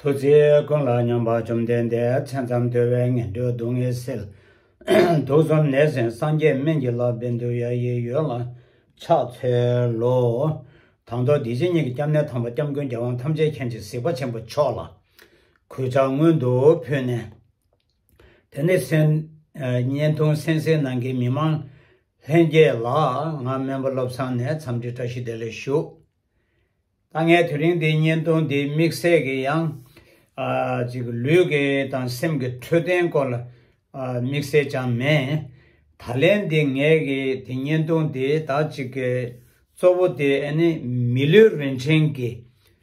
ཐུགས་རྗེ་ཀུན་ལ་སྙོམས་པ་བཅོམ་ལྡན་འདས་མཚན་ཙམ་དུལ་བའི་ངན་འགྲོའི་སྡུག་བསྔལ་སེལ། དུག་གསུམ་ནད་སེལ་སངས་རྒྱས་སྨན་གྱི་བླ་དཔེ་འདུལ་ཡ་ཡི་ཡོས་ལ་ཕྱག་འཚལ་ལོ། དང་ཐོག་འདི་ཕྱི་གཉིས་ཀྱི་སྐྱབས་གནས་དམ་པ་སྐྱབས་མགོན་རྒྱལ་དབང་ཐམས་ཅད་མཁྱེན་ཅིང་གཟིགས་པ་ཆེན་པོ་མཆོག་ལ། གོས་ལྕགས་སྔོན་དུ་ཕུད་ནས། དེ་ནས་བརྙན་ཐུང་སན་སའི་ནང་གི་མི་མང་ལྷན་རྒྱས་ལ་ང་སྨན་པ་བློ་བཟང་ནས་འཚམས་འདྲི་བཀྲ་ཤིས་བདེ་ལེགས་ཞུ། ད་ངས་དེ་རིང་འདི་བརྙན་ཐུང་འདི་དམིགས་བསལ་གྱི་ཡང་ཅིག་ལུས་ཀྱི་དང་སེམས་ཀྱི་འཕྲོད་བསྟེན་སྐོར་ལ་དམིགས་བསལ་ཅང་མེད། ད་ལན་འདི་ངས་ཀྱི་དེ་བརྙན་ཐུང་འདི་དག་ཅིག་གི་གཙོ་བོ་དེ་ཨ་ནི་མི་ལུས་རིན་ཆེན་གྱི་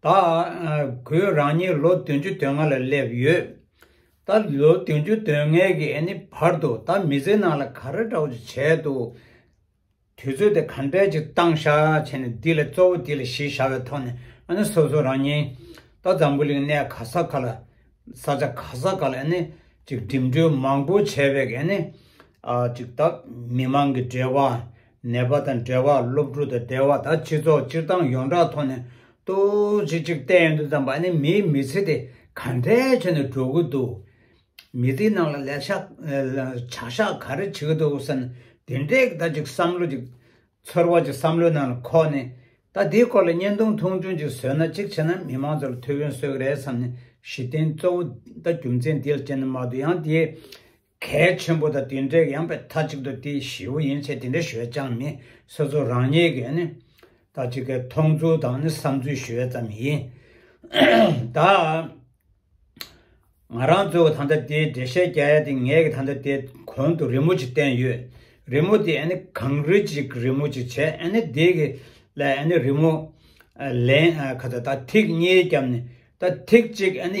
ད་ཁོས་རང་ཉིད་ལོ་བདུན་ཅུ་དོན་ལྔ་ལ་སླེབས་ཡོད། ད་ལོ་བདུན་ཅུ་དོན་ལྔའི་གི་ནི་བར་དུ་ད་མི་ཚེ་ནང་ལ་ག་རེ་འདྲ་བོ་ཅིག་བྱས་འདུག་དུས་ཚོད་དེ་ག་འདྲས་ཅིག་བཏང་ཤ་བྱས་ནས་འདི་ལ་གཙོ་བོ་འདི་ལ་གཞི་བཞག་པའི་ཐོག་ནས་ཨ་ནི་སོ་སོ་རང་ཉིད་ད་འཛམ་བུ་གླིང་གནས་ག་ས་ག་ལ་ས་ཆ་ག་ས་ག་ལ་ནི་ཅིག་འགྲིམ་འགྲུལ་མང་པོ་བྱས་པའི་གི་ནི་ཅིག་ད་མི་མང་གི་འབྲེལ་བ་ནད་པ་དང་འབྲེལ་བ་སློབ་ཕྲུག་དང་འབྲེལ་བ་དང་སྤྱི་ཚོགས་སྤྱིར་བཏང་ཡོངས་གྲགས་ཐོག་ནས་ཏོག་ཙེ་གཅིག་བལྟས་འདུག་དམ་པ་ནི་མིའི་མི་ཚེ་དེ་ག་འདྲའི་ཆེད་ནས་འགྲོ་གི་འདུག་མི་དེའི་ནང་ལ་ལས་ཤག་བྱ་ཤག་ག་རེ་བྱེད་ཀྱི་འདུག་ཟེར་ན་དེ་འདྲའི་ད་ཅིག་བསམ་བློ་ཅིག་ཚོར་བ་ཅིག་བསམ་བློའི་ནང་ལ་འཁོར་ནས་ད་དེའི་སྐོར་ལ་བརྙན་ཐུང་ཐུང་ཐུང་ཅིག་བཟོས་ན་ཅིག་བྱས་ན་མི་མང་ཚོ་ལ་ཐུགས་ཕན་གསོས་ཀྱི་རེད་བསམ་ནས་གཞི་རྟེན་གཙོ་བོ་ད་རྒྱུ་མཚན་དེ་ལ་བྱས་ནས་མ་གཏོགས་ཡང་དེའི་གལ་ཆེན་པོ་དང་དེ་འདྲའི་ཡངས་པའི་མཐའ་གཅིག་ཏུ་དེ་བཞི་བོ་ཡིན་ཚེ་དེ་འདྲའི་ཞོད་རྐྱང་ནི་སོ་སོ་རང་ཉིད་ཀྱི་ནི་ད་ཅི་ཀའི་མཐོང་ཚུལ་དང་ནི་བསམ་ཚུལ་ཞོད་ཙམ་ཡིན། ད་ང་རང་ཚོའི་བ་ད་ལྟ་དེའི་འགྲེལ་བཤད་རྒྱག་ཡ་དེ་ངས་ཀྱི་ད་ལྟ་དེ་གོང་དུ་རི་མོ་ཅིག་བསྟན་ཡོད། རི་མོ་དེ་ནི་གངས་རི་ཅིག་རི་མོ་ཅིག་བྱས་ནས་དེ་གི་ལས་ནི་རི་མོ་ལེན་ག་ད་ད་ཐིག་གཉིས་བརྒྱབ་ནས་ད་ཐིག་གཅིག་ཡང།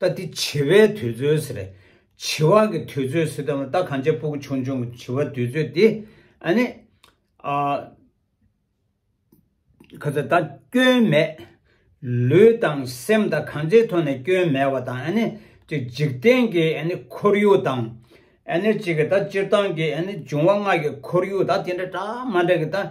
རྟ་དེ་བྱི་བའི་དུས་ཚོད་ཟེར། བྱི་བ་གི་དུས་ཚོད་ཟེར་དང་རྟ་གང་ཅག་སྤུ་གུ་ཆུང་ཆུང་གི་བྱི་བ་དུས་ཚོད་དེ། ཨ་ནི། ཨ། ཁ་ཚ་རྟ་སྐྱོན་མེད། ལུས་དང་སེམས་དང་གང་ཅིའི་ཐོག་ནས་སྐྱོན་མེད་བ་དང་ཨ་ནི། གཅིག་འཇིག་རྟེན་གྱི་ཨ་ནི་ཁོར་ཡུག་དང། ཨ་ནི་གཅིག་གི་རྟ་སྤྱིར་བཏང་གི་ཨ་ནི་འབྱུང་བ་ལྔ་གི་ཁོར་ཡུག་དང་དེ་འདྲ་གྲ་མ་འདྲ་གི་རྟ།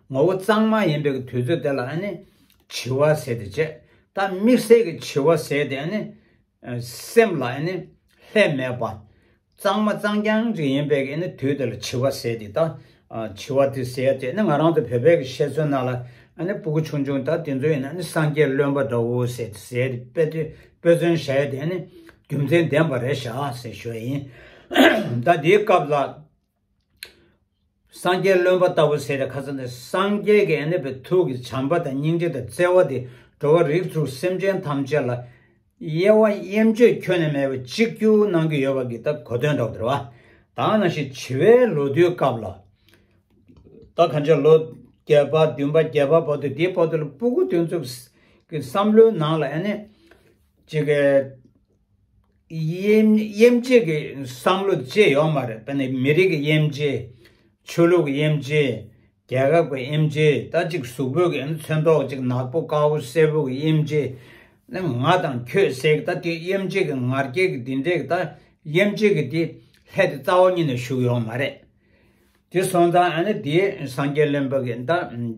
ངོ་བོ་གཙང་མ་ཡིན་པའི་དུས་ཚོད་དེ་ལ་ནི་བྱི་བ་ཟེར་ཏེ་དཔྱད། ད་དམིགས་བསལ་གྱི་བྱི་བ་ཟེར་ཏེ་ནི། སེམས་ལ་ནི་ལྷད་མེད་པ། གཙང་མ་གཙང་རྐྱང་ཅིག་ཡིན་པའི་ནི་དུས་དེ་ལ་བྱི་བ་ཟེར་ཏེ་ད་བྱི་བ་དེ་ཟེར་ཏེ་ནི་ང་རང་ཚོ་བོད་པའི་གི་བཤད་ཚུལ་རྣམས་ལ་ནི་སྤུ་གུ་ཆུང་ཆུང་ད་དེ་ཚོ་ཡིན་ན་ནི་སངས་རྒྱས་བློན་པོ་འདྲ་བོ་ཟེར་ཏེ་ཟེར་ཏེ་དཔེ་དེ་དཔེ་མཚོན་བྱས་ཏེ་ནི་རྒྱུ་མཚན་ལྡན་པ་རེ་བཞག་ཟེར་ཞོར་ཡིན། ད་དེའི་སྐབས་ལ་སངས་རྒྱས་རློན་པ་ལྟ་བུ་ཟེར་བའི་ཁ་ཚ་ནི་སངས་རྒྱས་ཀྱི་གནས་པའི་ཐུགས་ཀྱི་བྱམས་པ་དང་སྙིང་རྗེ་དང་བརྩེ་བ་དེས་འགྲོ་བ་རིགས་དྲུག་སེམས་ཅན་ཐམས་ཅད་ལ་དབྱེ་བ་དབྱེ་འབྱེད་ཁྱོན་ནས་མེད་པར་གཅིག་གྱུར་གནང་གི་ཡོད་པ་འགི་ད་གོ་དོན་འདྲ་བོ་ཟེར་བ་དག་ནང་བཞིན་བྱིས་པའི་ལོ་རྒྱུས་སྐབས་ལ། ད་གང་ཅག་ལོ་བརྒྱད་པ་བདུན་པ་བརྒྱད་པ་བར་དུ་དེའི་བར་དུ་ལ་སྤུ་གུ་དོན་གཙུག་གི་བསམ་བློའི་ནང་ལ་ཨེ་ནས། གཅིག། དབྱེ་འབྱེད་ཀྱི་བསམ་བློ་བཅས་ཡོད་མ་རེད་དཔེར་ན་མི་རིགས་ཀྱི་དབྱེ་འབྱེད། ཆོས་ལུགས་ཀྱི་དབྱེ་འབྱེད། རྒྱལ་ཁབ་ཀྱི་དབྱེ་འབྱེད་ད་ཅིག་གཟུགས་པོ་གི་མཚོན་མདོག་ཅིག་ནག་པོ་དཀར་བོ་སེར་བོ་གི་དབྱེ་འབྱེད། ང་དང་ཁྱོད་ཟེར་གི་ད་དེ་དབྱེ་འབྱེད་ཀྱི་ངར་སྐད་ཀྱི་དེ་འདྲས་ཀྱི་ད་དབྱེ་འབྱེད་ཀྱི་དེ་ལྷད་དེ་རྩ་བ་ཉིད་ནས་ཞུགས་ཡོད་མ་རེད། དེ་སོང་ཙང་ཨ་ནི་དེ་སངས་རྒྱས་བློན་པོ་གི་ད།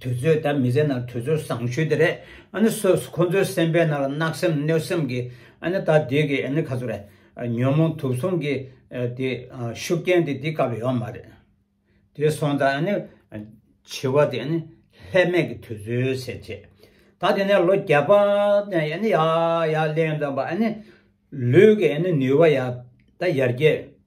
དུས་ཚོད་དང་མི་ཚེ་ནང་དུས་ཚོད་བཟང་ཤོས་དེ་རེད་ཨ་ནི་སོ་སོ་ཁོ་ཚོའི་སེམས་པའི་ནང་ལ་གནག་སེམས་གནོད་སེམས་ཀྱི་ཨ་ནི་ད་དུས་ཀྱི་ཨ་ནི་ཁ་ཚུར་རེད་ཉོན་མོངས་དུག་གསུམ་གྱི་དེ་ཤུགས་རྐྱེན་དེ་དེ་སྐབས་ཡོད་མ་རེད་དེ་སོང་ད་ཨ་ནི་བྱི་བ་དེ་ཨ་ནི་ལྷད་མེད་ཀྱི་དུས་ཚོད་ཟེར་བྱས་ད་དེ་ནས་ལོ་བརྒྱ་པ་ནས་ཨ་ནི་ཡག་ཡག་གླེང་དང་པ་ཨ་ནི་ལུས་ཀྱི་ཨ་ནི་ནུས་བ་ཡག་ད་ཡར་རྒྱས།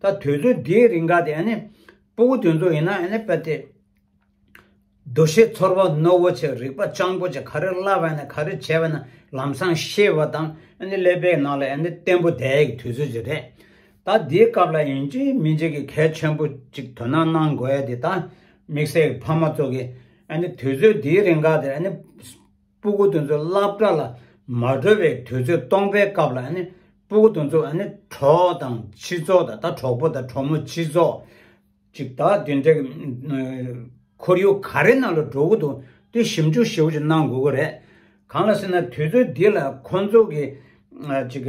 ད་དུས་ཚོད་འདིའི་རིང་ག་དེ་ནི་སྤོ་བོ་དུས་ཚོད་ཡིན་ན་ནི་དཔེ་དེབ། འདུ་ཤེས་ཚོར་བ་ནོར་བོ་ཆེ་རིག་པ་སྤྱང་པོ་ཆེ་ག་རེ་བསླ་བས་ན་ག་རེ་བྱས་པས་ན་ལམ་སང་ཤེས་པ་དང་ནི་ཀླད་པའི་ནང་ལ་ནི་བརྟན་པོ་དེ་ཡི་དུས་ཚོད་ཅིག་རེད། ད་འདིའི་སྐབས་ལ་ཡིན་གཅིག་མིན་གཅིག་གི་གལ་ཆེན་པོ་གཅིག་དོ་སྣང་གནང་དགོས་ཡ་དེ་ད་དམིགས་བསལ་གྱི་ཕ་མ་ཚོ་གི་ནི་དུས་ཚོད་འདིའི་རིང་ག་དེ་ནི་སྤུ་གུ་དོན་གཙོ་བསླབ་གྲྭ་ལ་མ་འགྲོ་བའི་དུས་ཚོད་སྟོང་པའི་སྐབས་ལ་སྤུ་གུ་དོན་གཙོ་གྲོགས་དང་ཕྱི་ཚོགས་དང་ད་གྲོགས་པོ་དང་གྲོགས་མོ་ཕྱི་ཚོགས། ཅིག་ད་དེ་འདྲ་ཁོར་ཡུག་ག་རེ་ནང་ལ་འགྲོ་གི་འདུག་དེ་ཞིབ་འཇུག་ཞིབ་ཅིག་གནང་དགོས་ཀྱི་རེད། གང་ལ་ཟེར་ན་དུས་ཚོད་འདི་ལ་ཁོ་ཚོ་གི་ཅིག།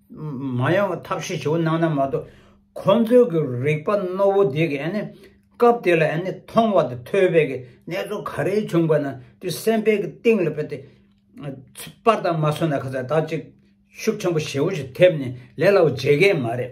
མ་ཡང་བ་ཐབས་ཤེས་བྱེད་པོ་གནང་ན་མ་གཏོགས་ཁོ་ཚོའི་གི་རིག་པ་རྣོ་བོ་དེ་གི་ཨ་ནི་སྐབས་དེ་ལ་ཨ་ནི་མཐོང་བ་དང་ཐོས་པའི་གི་གནས་ཚུལ་ག་རེ་བྱུང་པ་ན་དེ་སེམས་པའི་གི་གཏིང་ལ་བས་ཏེ་པར་དང་མ་སོན་ན་ཁ་ཚ་དག་ཅིག་ཤུགས་ཆེན་པོ་ཞེ་བོ་ཞིག་ཐེབས་ནས་ལས་སླ་བོ་བྱེད་ཀའི་མ་རེད།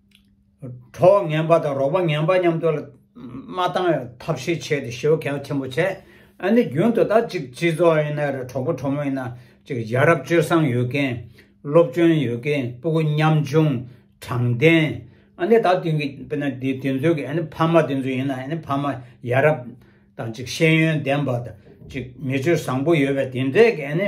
གྲོགས་ངན་པ་དང་རོགས་པ་ངན་པ་མཉམ་དུ་མ་བཏང་བའི་ཐབས་ཤེས་བྱས་ཏེ་ཞེ་བོ་གལ་ཆེན་པོ་བྱས། ཨ་ནི་རྒྱུན་དུ་ད་ཅིག་སྤྱི་ཚོགས་ཡིན་ན་རེད་གྲོགས་པོ་གྲོགས་མོ་ཡིན་ན་ཅིག་ཡ་རབས་སྤྱོད་བཟང་ཡོད་མཁན། སློབ་སྤྱོན་ཡོད་མཁན་སྤུ་གུ་མཉམ་ཆུང་དྲང་བདེན། ཨ་ནི་ད་དེང་གི་དཔེར་ན་དེ་དེ་ཚོའི་ཨ་ནི་ཕ་མ་དེ་ཚོ་ཡིན་ན་ཨ་ནི་ཕ་མ་ཡ་རབས་དང་ཅིག་ཤེས་ཡོན་ལྡན་པ་དང་ཅིག་མི་སྤྱོད་བཟང་པོ་ཡོད་པའི་དེ་འདྲས་ཀྱི་ཨ་ནི།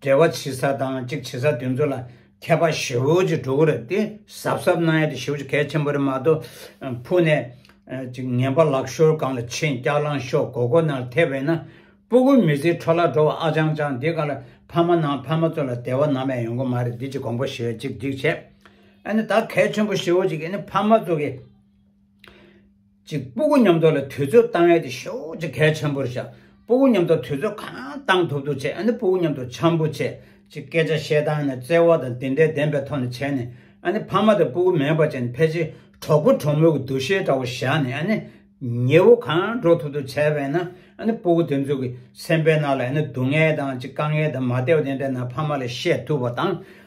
འབྲེལ་བ་བྱེད་ས་དང་གཅིག་བྱེད་ས་དེ་ཚོ་ལ་མཁས་པ་ཞེའུ་ཅིག་འགྲོ་གི་རེད་དེ་གཟབ་གཟབ་གནང་ཡ་དེ་ཞེའུ་ཅིག་གལ་ཆེན་པོ་རེད་མ་གཏོགས་ཕུག་ནས་ཅིག་ངན་པ་ལག་ཤོར་གང་ལ་ཆེ་འཁྱག་ལངས་ཤོག་མགོ་སྐོར་ནང་ལ་ཐེབས་བས་ན་སྤུ་གུ་མི་བཟི་འཕྲོ་བརླག་འགྲོ་བ་ཨ་ཅང་ཅང་འདི་ག་ལ་ཕ་མ་ནང་ཕ་མ་ཚོ་ལ་དེ་བ་ནམ་ཡང་ཡོང་གི་མ་རེད་འདི་ཅིག་གོང་པོ་ཞེས་ཅིག་འགྲིག་བྱས་ཨ་ནི་ད་གལ་ཆེན་པོ་ཞེའུ་ཅིག་གིས་ནི་ཕ་མ་ཚོ་གི། གཅིག་སྤུ་གུ་མཉམ་འདོར་ལ་དུས་ཚོད་གཏང་ཡས་དེ་ཤུགས་ཀྱིས་གལ་ཆེན་པོར་བཞག་སྤུ་གུ་མཉམ་འདོར་དུས་ཚོད་གང་གཏང་ཐུབ་ཐུབ་བྱས་ཨ་ནི་སྤུ་གུ་མཉམ་འདོར་འཆམ་པོ་བྱས་ཅིག་སྐད་ཆ་བཤད་སྟངས་ནི་བརྩེ་བ་དང་དེ་འདྲའི་ལྡན་པའི་ཐོག་ནས་བྱས་ནས་ཨ་ནི་ཕ་མ་དང་སྤུ་གུ་མེད་པ་བཅས་ནས་ཕལ་ཆེར་གྲོགས་པོ་གྲོགས་མོའི་གི་འདུ་ཤེས་འདྲ་བོ་བཞག་ནས་ཨ་ནི་ཉེ་བོ་གང་འགྲོ་ཐུབ་ཐུབ་བྱས་པས་ན་ཨ་ནི་སྤུ་གུ་དེ་ཚོའི་གི་སེམས་པའི་ནང་ལ་ཨ་ནི་སྡུག་བསྔལ་དང་ཅིག་དཀའ་ངལ་དང་མ་བདེ་བ་དེ་འདྲ་ན་ཕ་མ་ལ་བཤད་ཐུབ་པ་དང།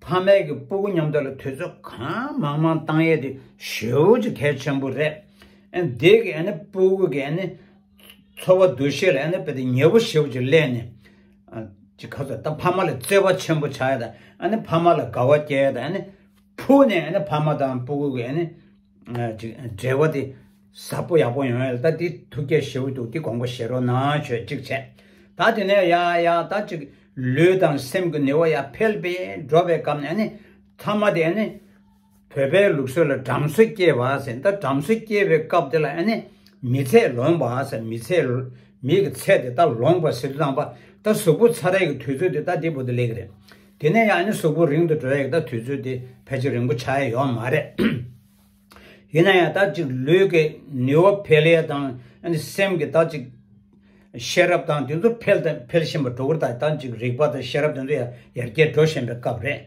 ཕ་མེས་ཀྱི་སྤུ་གུ་མཉམ་དུ་ལ་དུས་ཚོད་གང་མང་མང་བཏང་ཡས་དེ་ཞེའུ་ཅིག་གལ་ཆེན་པོ་རེད། འདི་གི་སྤུ་གུ་གི་འཚོ་བ་འདུ་ཤེས་ལ་དཔེ་དེ་ཉེ་བོ་ཞེའུ་ཅིག་གླས་ནས། ཅིག་ག་ཚོད་ད་ཕ་མ་ལ་བརྩེ་བ་ཆེན་པོ་བྱ་ཡས་དང་ཕ་མ་ལ་དགའ་བ་སྐྱེ་ཡས་དང་ཕུ་ནས་ཕ་མ་དང་སྤུ་གུ་གི། འབྲེལ་བ་དེ་ཟབ་པོ་ཡག་པོ་ཡོང་ཡོད་ད་དེ་ཐུགས་རྒྱ་ཞེའུ་འདུག་དེ་གོང་པོ་བཞེས་རོགས་གནང་ཆོས་གཅིག་བྱས་ད་དེ་ནས་ཡ་ཡ་ད་གཅིག་ལུས་དང་སེམས་ཀྱི་ནུས་བ་ཡ་འཕེལ་པས་འགྲོ་བའི་སྐབས་ནས་ནི་ཐ་མ་དེ་ནི་བོད་པའི་ལུགས་སྲོལ་ལ་བྲམ་ཟེ་སྐྱེ་བ་ཟེར་ད་བྲམ་ཟེ་སྐྱེ་བའི་སྐབས་དེ་ལ་ནི་མི་ཚད་ལོངས་པ་ཟེར་མི་ཚད་མིག་གི་ཚད་དེ་ད་ལོངས་པ་ཟེར་དུ་བཏང་པ་ད་གཟུགས་པོ་ཚ་རེག་གི་དུས་ཚོད་དེ་ད་འདི་བོ་དེ་ལེགས་རེད་དེ་ནས་ཡང་ནི་གཟུགས་པོ་རིང་དུ་འགྲོ་ཡག་ད་དུས་ཚོད་དེ་ཕལ་ཆེར་རིང་པོ་ཆགས་ཡས་ཡོག་མ་རེད། ཡིན་ན་ཡང་ད་ཅིག་ལུས་ཀྱི་ནུས་བ་འཕེལ་ཡས་དང་སེམས་ཀྱི་ད་ཅིག་ཤེས་རབ་དང་དེ་ཚོ་འཕེལ་དང་འཕེལ་བཞིན་པ་འགྲོ་ཀྱི་ད་ཅིག་རིག་པ་དང་ཤེས་རབ་དེ་ཚོ་ཡར་ཡར་རྒྱས་འགྲོ་བཞིན་པའི་སྐབས་རེད།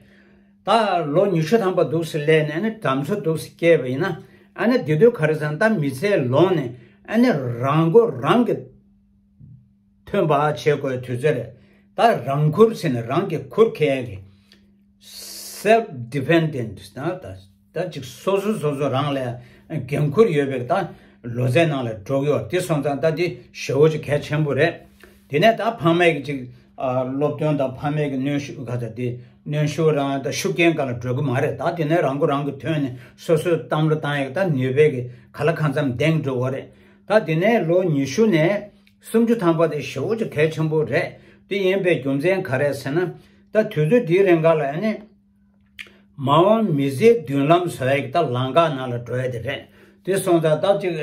ད་ལོ་ཉི་ཤུ་ཐམ་པ་འདུག་སེ་ལས་ནས་ནི་བྲམ་ཟེ་འདུག་སེ་སྐྱེས་པ་ཡིན་ན་དེ་དུས་ག་རེ་ཟང་ད་མི་ཚེ་ལོངས་ནས་རང་མགོ་རང་གིས། ཐོན་པ་བྱེད་དགོས་དུས་ཚོད་རེད། ད་རང་འཁུར་ཟེར་ནས་རང་གིས་འཁུར་མཁན་གྱི། Self Dependent། ད་ཅིག་སོ་སོ་སོ་སོ་རང་ལ་འགན་འཁུར་ཡོད་པའི་ད་ལོ་ཚད་ནང་ལ་འགྲོ་གི་ཡོད་དེ་སོང་ཙང་ད་འདི་ཞེ་བོ་ཅིག་གལ་ཆེན་པོ་རེད། དེ་ནས་ད་ཕ་མེས་ཀྱི་ཅིག་སློབ་སྟོན་དང་ཕ་མེས་ཀྱི་གནོན་ཤུགས་ག་ཚ་དེ་གནོན་ཤུགས་རང་ད་ཤུགས་རྐྱེན་ག་ལ་འགྲོ་གི་མ་རེད་ད་དེ་ནས་རང་མགོ་རང་གིས་ཐོན་ནས་སོ་སོས་བཏང་བློ་བཏང་ཡག་ད་ནུས་པས་གི་ག་ལ་གང་འཚམ་འདེང་འགྲོ་གི་རེད། ད་དེ་ནས་ལོ་ཉི་ཤུ་ནས། སུམ་ཅུ་ཐམ་པ་དེ་ཞེ་བོ་ཅུ་གལ་ཆེན་པོ་རེད་དེ་ཡིན་པའི་རྒྱུ་མཚན་ག་རེད་ཟེར་ན། ད་དུས་ཚོད་དེའི་རིང་ག་ལ་ཡིན། མ་འོངས་མི་ཚེའི་མདུན་ལམ་ཟེར་བ་ཡིག་ད་ལང་ག་ན་ལ་འགྲོ་ཡ་དེ་རེད་དེ་སོང་ད་སྟབས་ཅིག་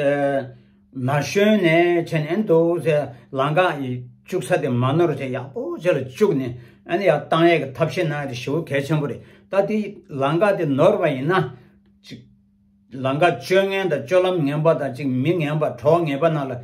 ན་གཞོན་ནས་ཆེ་ནས་འདུག་ཚེ་ལང་ག་ཡི་བཅུག་ས་དེ་མ་ནོར་ཅིག་ཡག་པོ་ཆེ་ལ་བཅུག་ནས་ཨན་ཡག་ཏང་ཡག་གི་ཐབས་ཤེས་གནང་ཡ་དེ་ཞེ་བོ་གལ་ཆེན་པོ་རེད་ད་དེ་ལང་ག་དེ་ནོར་བ་ཡིན་ན། ཅིག། ལང་ཀ་སྤྱོད་ངན་དང་སྤྱོད་ལམ་ངན་པ་དང་ཅིག་མི་ངན་པ་གྲོགས་ངན་པ་རྣམས་ལ་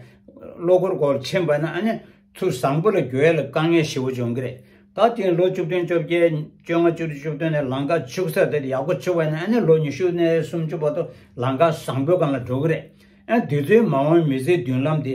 བློ་ཁོར་སྒོར་ཕྱིན་པ་ན་ནི་ཚུར་བཟང་པོ་ལ་རྒྱུ་ཡལ་ལ་དཀའ་ངལ་ཞི་བོ་འབྱུང་གི་རེད་ད་དེ་ཡིན་ལོ་བཅུ་བདུན་བཅོ་བརྒྱད་བཅོ་ལྔ་བཅུ་དྲུག་བཅུ་བདུན་ནས་ལང་ཀ་བཅུག་ས་དེར་ཡག་པོ་བཅུག་པ་ན་ནི་ལོ་ཉི་ཤུ་ནས་སུམ་བཅུ་བར་དུ་ལང་ཀ་བཟང་པོའི་སྒང་ལ་འགྲོ་གི་རེད་ཨ་དེ་ཚོའི་མ་འོངས་མི་ཚེའི་མདུན་ལམ་དེ།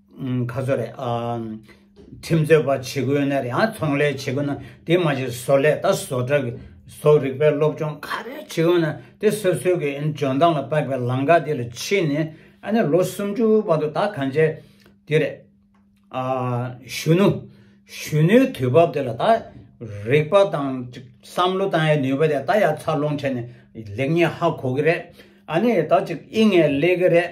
ཁ་བཟོ་རེད། ཁྲིམས་རྩོད་པ་བྱེད་དགོས་ཡོད་ན་རེད། ཚོང་ལས་བྱེད་དགོས་ན་དེ་མ་བྱེད་བཟོ་ལས་དང་བཟོ་གྲྭ་གི་བཟོ་རིག་པའི་སློབ་སྦྱོང་ག་རེ་བྱེད་དགོས་ཡོད་ན་དེ་སོ་སོའི་གི་འཇོན་ཐང་ལ་བབས་པའི་ལམ་ཁ་དེ་ལ་ཕྱིན་ནས་ཨ་ནི་ལོ་སུམ་ཅུ་བར་དུ་ད་གང་བྱས་དེ་རེད། གཞོན་ནུ། གཞོན་ནུའི་དུས་བབ་དེ་ལ་ད་རིག་པ་དང་བསམ་བློ་བཏང་ཡའི་ནུས་པ་དེ་ད་ཡར་འཚར་ལོངས་བྱས་ནས་ལེགས་ཉེས་ཧ་གོ་གི་རེད། ཨ་ནི་ད་ཅིག་དབྱིན་ངེས་ལེགས་གི་རེད།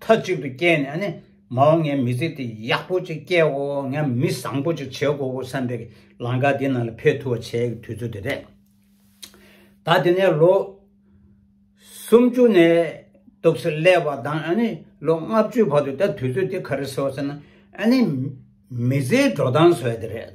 མཐའ་གཅིག་ཏུ་སྐྱེས་ནས་ནི་མ་འོངས་ངའི་མི་ཚེ་དེ་ཡག་པོ་ཅིག་སྐྱེའོ་ངས་མི་བཟང་པོ་ཅིག་བྱེད་དགོས་བསམ་པའི་ལང་ཀ་དེའི་ནང་ལ་ཕེབས་ཐུབ་པ་བྱེད་ཡག་གི་དུས་ཚོད་དེ་རེད། ད་དེ་ནས་ལོ་སུམ་ཅུ་ནས་གཏུགས་སེ་སླེ་བ་དང་ཨ་ནི་ལོ་ལྔ་བཅུའི་བར་དུ་ད་དུས་ཚོད་དེ་ག་རེ་ཟེར་བ་ཟེར་ན་ཨ་ནི་མི་ཚེའི་འགྲོ་སྟངས་ཟེར་བ་དེ་རེད།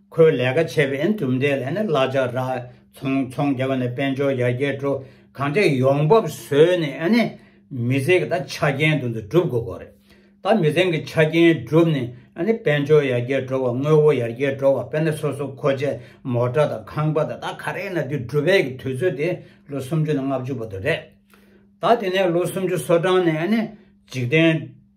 ཁོའི་ལས་ཀ་བྱེད་པའི་གྲུབ་འབྲས་ལས་ནི་གླ་ཆ་རག་ཚོང་ཚོང་རྒྱག་པ་ནས་དཔལ་འབྱོར་ཡར་རྒྱས་འགྲོ་གང་ཅི་ཡོང་འབབ་བཟོས་ནས་ནི་མི་ཚེ་གི་ད་ཆ་རྐྱེན་དུ་འདི་སྒྲུབ་དགོས་དགོས་རེད། ད་མི་ཚེ་གི་ཆ་རྐྱེན་བསྒྲུབས་ནས་ནི་དཔལ་འབྱོར་ཡར་རྒྱས་འགྲོ་བ་དངོས་བོ་ཡར་རྒྱས་འགྲོ་བ་དཔེར་ན་སོ་སོ་མཁོ་ཆས་མོ་ཏྲ་དང་ཁང་པ་དང་ད་ག་རེ་ན་འདི་སྒྲུབ་པའི་གི་དུས་ཚོད་དེ་ལོ་སུམ་ཅུ་ནས་ལྔ་བཅུ་བར་དུ་རེད། ད་དེ་ནས་ལོ་སུམ་ཅུ་སོ་གྲངས་ནས་ནི་འཇིག་རྟེན།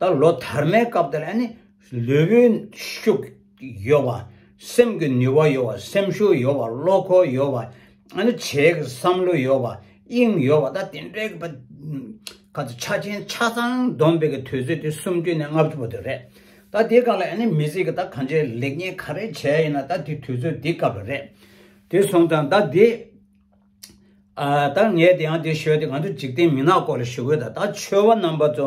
ད་ལོ་དར་མའི་སྐབས་དེར་ཨ་ནི་ལུས་པོའི་ཤུགས་ཡོད་པ། སེམས་ཀྱི་ནུས་བ་ཡོད་པ་སེམས་ཤུགས་ཡོད་པ་བློ་ཁོག་ཡོད་པ། ཨ་ནི་བྱེད་ཀྱི་བསམ་བློ་ཡོད་པ་དབྱིངས་ཡོད་པ་ད་དེ་འདྲའི་གི་པ། ཁ་ཚ་ཆ་ཆེན་ཆ་ཚང་བསྡོམས་པའི་གི་དུས་ཚོད་དེ་སུམ་བཅུ་ནས་ལྔ་བཅུ་བ་དེ་རེད། ད་དེའི་སྐབས་ལ་ཨ་ནི་མི་ཟིག་གི་ད་གང་ཆེ་ལེགས་ཉེས་ག་རེ་བྱས་ཡིན་ན་ད་དེ་དུས་ཚོད་དེ་སྐབས་རེད། དེ་སོང་ཙང་ད་དེ། ད་ངས་དེ་ཡང་དེ་ཤོད་དེ་ང་ཚོ་འཇིག་རྟེན་མི་ནག་སྐོར་ལ་ཞུ་གི་ཡོད་ད་ད་ཆོས་བ་རྣམ་པ་ཚོ་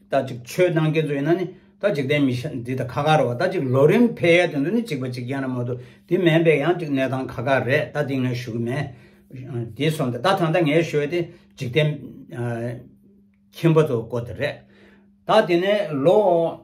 ད་ཅིག་ཆོས་གནང་མཁན་ཚོ་ཡིན་ན་ནི་ད་འཇིག་རྟེན་མི་འདི་ད་ཁ་ཁ་རེད་བ་ད་ཅིག་ལོ་རིམ་འཕེལ་ཡས་དེ་ཚོ་ནི་ཅིག་པ་ཅིག་ཡན་ན་མ་ཏུ་དེ་མེན་པས་ཡང་ཅིག་གནས་སྟངས་ཁ་ཁ་རེད་ད་དེ་ངས་ཞུ་གི་མེད་དེ་སོང་དེ་ད་ད་ད་ངས་ཤོད་དེ་འཇིག་རྟེན་ཁྱིམ་པ་ཚོ་སྐོར་དེ་རེད་ད་དེ་ནས་ལོ།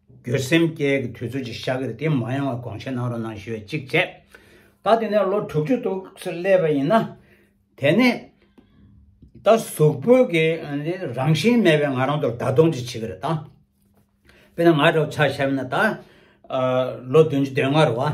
འགྱོད་སེམས་སྐྱེ་གི་དུས་ཚོད་ཅིག་ཤར་གི་རེད་དེ་མ་ཡོང་བར་དགོངས་བཞེས་གནང་རོགས་གནང་ཞུ་བའི་ཅིག་བྱས། ད་དེ་ནས་ལོ་དྲུག་ཅུ་དུག་སེར་བསླད་པ་ཡིན་ན། དེ་ནས་ད་གཟུགས་པོ་གི་རང་བཞིན་མེད་པའི་ང་རང་ཚོར་ད་དུང་ཅིག་བྱེད་གི་རེད་ད། དཔེར་ན་ང་འདྲ་བོ་ཆ་ཤར་བས་ན་ད། ལོ་བདུན་ཅུ་དོན་ལྔ་རུ་བ།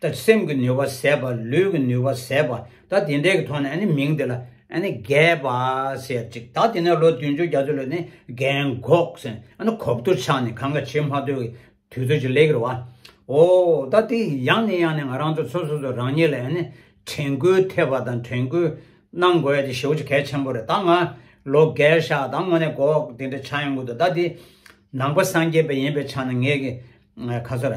ད་སེམས་ཀྱི་ནུས་པ་ཟད་པ་ལུས་ཀྱི་ནུས་པ་ཟད་པ་ད་དེ་འདྲའི་གི་ཐོག་ནས་ནི་མིང་དེ་ལ་ནི་རྒས་པ་ཟེར་ཅིག་ད་དེ་ནས་ལོ་བདུན་ཅུ་བརྒྱ་ཅུ་ལོན་ནི་རྒན་གོག་ཟེར་ནི་གོབ་ཏུ་ཆགས་ནས་གང་ག་བྱེད་མ་ཐུབ་ཀྱི་དུས་ཚོད་ཅིག་ལེགས་རེད་བ། ཨོ་ད་དེ་ཡང་ནི་ཡང་ནི་ང་རང་ཚོ་ཚོ་སོ་སོ་རང་ཉིད་ལ་ནི་དྲན་སྐུལ་ཐེབས་པ་དང་དྲན་སྐུལ་གནང་དགོས་ཡ་དེ་ཞེ་བོ་ཅིག་གལ་ཆེན་པོ་རེད་ད་ང་ལོ་རྒས་ཤ་ད་ངོ་ནས་གོག་དེ་འདྲ་ཆགས་ཡོང་གི་འདུག་ད་དེ་ནང་པ་སངས་རྒྱས་པ་ཡིན་པའི་ཆ་ནས་ངས་གི་ཁ་ཚོར།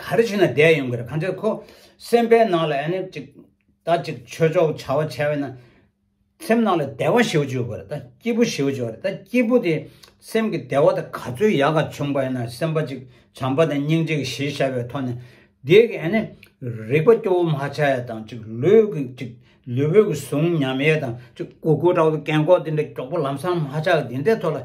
ག་རེ་བྱས་ན་བསྡད་ཡོང་གི་རེད་གང་ལྟར་ཁོ་སེམས་པའི་ནང་ལ་ཡང་ན་ཅིག་ད་ཅིག་ཆོས་ཕྱོགས་བྱ་བ་བྱས་པས་ན་སེམས་ནང་ལ་བདེ་བ་ཞིག་བྱུང་གི་རེད་ད་སྐྱིད་པོ་ཞིག་བྱུང་གི་རེད་ད་སྐྱིད་པོ་དེ་སེམས་ཀྱི་བདེ་བ་དེ་ག་ཚོད་ཡག་ག་བྱུང་བས་ན་སེམས་པ་ཅིག་བྱམས་པ་དང་སྙིང་རྗེ་གི་གཞི་བཞག་པའི་ཐོག་ནས་འདི་གི་ཡང་ན་རིག་པ་སྐྱོ་བོ་མ་ཆགས་ཡས་དང་ཅིག་ལུས་ཀྱི་ཅིག་ལུས་པོའི་གཟུང་ཉམས་ཡས་དང་ཅིག་གུ་གུ་དྲག་པོ་གན་འགོག་དེ་འདྲ་གྱོགས་པོ་ལམ་སང་མ་ཆགས་གི་དེ་འདྲའི་ཐོག་ལ་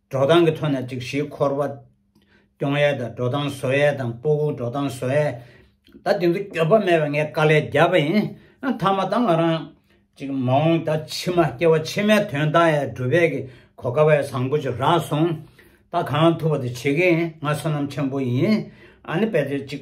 འགྲོ་སྟངས་ཀྱི་ཐོག་ནས་སྒྲིག་གཞིའི་འཁོར་བ་སྐྱོང་ཡས་དང་འགྲོ་སྟངས་བཟོ་ཡས་དང་སྤོ་བོ་འགྲོ་སྟངས་བཟོ་ཡས། ད་དེ་ཚོ་འགྱོད་པ་མེད་པར་ངས་དཀའ་ལས་བརྒྱབ་པ་ཡིན། མཐའ་མ་ད་ང་རང། ཅིག་མ་འོངས་ད་ཕྱི་མ་སྐྱེ་བ་ཕྱི་མའི་དོན་ད་ཡས་སྒྲུབ་པས་ཀྱི་གོ་དཀའ་བས་བཟང་པོ་ཅིག་རག་སོང། ད་གང་ཐུབ་པ་དེ་བྱེད་ཀྱི་ཡིན་ང་བསོད་ནམས་ཆེན་པོ་ཡིན། ཨ་ནི་དཔེ་དེབ་ཅིག་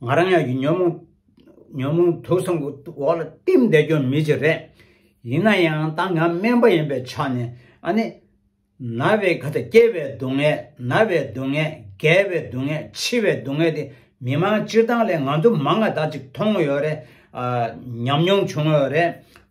ང་རང་ཡང་ཉོན་མོངས་དུག་གསུམ་གྱི་འོག་ལ་བསྟིམ་བསྡད་རྒྱུ་མི་ཅི་རེད། ཡིན་ན་ཡང་ད་ང་སྨན་པ་ཡིན་པའི་ཆ་ནས་ཨ་ནི། ན་བའི་ག་ད་སྐྱེ་བའི་སྡུག་བསྔལ་ན་བའི་སྡུག་བསྔལ་རྒས་པའི་སྡུག་བསྔལ་འཆི་བའི་སྡུག་བསྔལ་དེ་མི་མང་སྤྱིར་བཏང་ལས་ང་ཚོ་མང་ང་དག་ཅིག་མཐོང་ཡོད་རེད། ཉམས་མྱོང་བྱུང་ཡོད་རེད།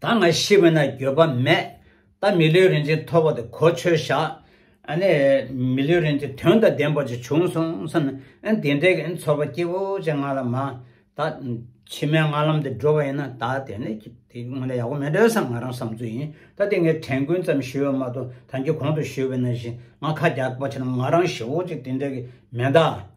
ད་ང་ཤི་བས་ན་འགྱོད་པ་མེད། ད་མི་ལུས་རིན་ཆེན་ཐོབ་བ་དེ་གོ་ཆོད་བཞག། ཨནི། མི་ལུས་རིན་ཆེན་དོན་དང་ལྡན་པ་ཅིག་བྱུང་སོང་བསམ་ནས། ཨན་དེ་འདྲའི་ཨན་ཚོར་བ་སྐྱིད་པོ་ཅིག་ང་ལ་མ། ད། ཕྱི་མའི་ང་ལམ་དེ་འགྲོ་བ་ཡིན་ན་ད་དེ་ནས་ཀྱི་དེ་དངོས་ནས་ཡག་པོ་མེད་འདྲ་བསམ་ང་རང་བསམ་ཚུལ་ཡིན། ད་དེ་ངས་དྲན་ཀུན་ཙམ་ཞུས་བ་མ་གཏོགས་ད་འགྱོད་གོང་དུ་ཞུས་བས་ན་བཞིན་ང་ཁ་རྒྱག་པ་ཆེ་ན་ང་རང་ཞི་བོ་ཅིག་དེ་འདྲའི་གི་མེད་ད།